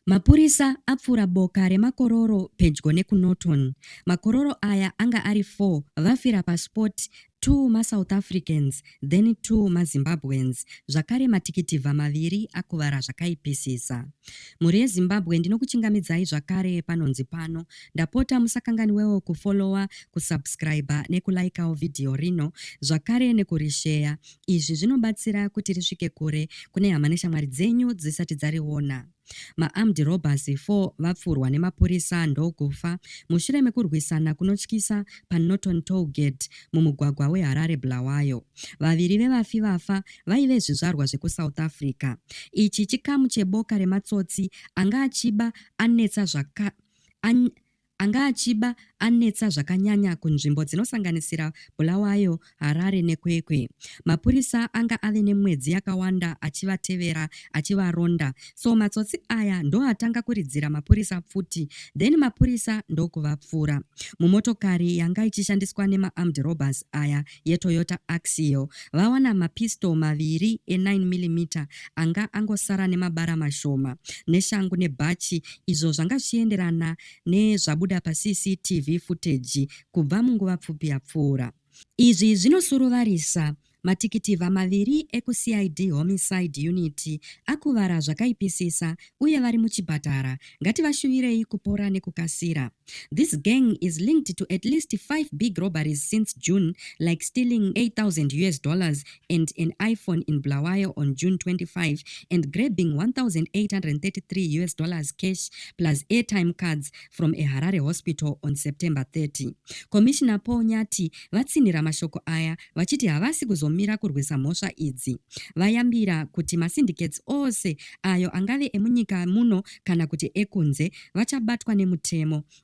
Mapurisa apfura boka remakororo pedyo nekuNorton. Makororo aya anga ari 4 vafira paspot, 2 maSouth Africans then 2 maZimbabweans zvakare matikitivha maviri akuvara zvakaipisisa. Mhuri yeZimbabwe ndinokuchingamidzai zvakare panonzi pano. Ndapota musakanganiwewo kufollower, kusubscriber nekulikawo vhidhiyo rino zvakare nekurisheya Izvi zvinobatsira kuti risvike kure kune hama neshamwari dzenyu dzisati dzariona. Maarmed robbers 4 vapfurwa nemapurisa ndokufa mushure mekurwisana kunotyisa paNorton Tollgate mumugwagwa weHarare Bulawayo. Vaviri vevafi vafa vaive zvizvarwa zvekuSouth Africa. Ichi chikamu cheboka rematsotsi anga achiba anetsa zvaka an, Anga achiba anetsa zvakanyanya kunzvimbo dzinosanganisira Bulawayo, Harare neKwekwe. Mapurisa anga ave nemwedzi yakawanda achivatevera achivaronda so matsotsi aya ndoatanga kuridzira mapurisa pfuti then mapurisa ndokuvapfura. Mumotokari yanga ichishandiswa nemaarmed robbers aya yeToyota Axio vawana mapistol maviri e9mm anga angosara nemabara mashoma neshangu nebhachi izvo zvanga zvichienderana nezvabuda paCCTV footage kubva munguva pfupi yapfuura. Izvi zvinosuruvarisa Matikitivha maviri ekuCID Homicide Unit akuvara zvakaipisisa uye vari muchipatara. Ngativashuvirei kupora nekukasira. This gang is linked to at least five big robberies since June, like stealing 8,000 US dollars and an iPhone in Bulawayo on June 25 and grabbing 1,833 US dollars cash plus airtime cards from a Harare hospital on September 30. Commissioner Paul Nyati vatsinhira mashoko aya vachiti havasi kuzomira kurwisa mhosva idzi. Vayambira kuti masyndicates ose ayo angave emunyika muno kana kuti ekunze, vachabatwa nemutemo.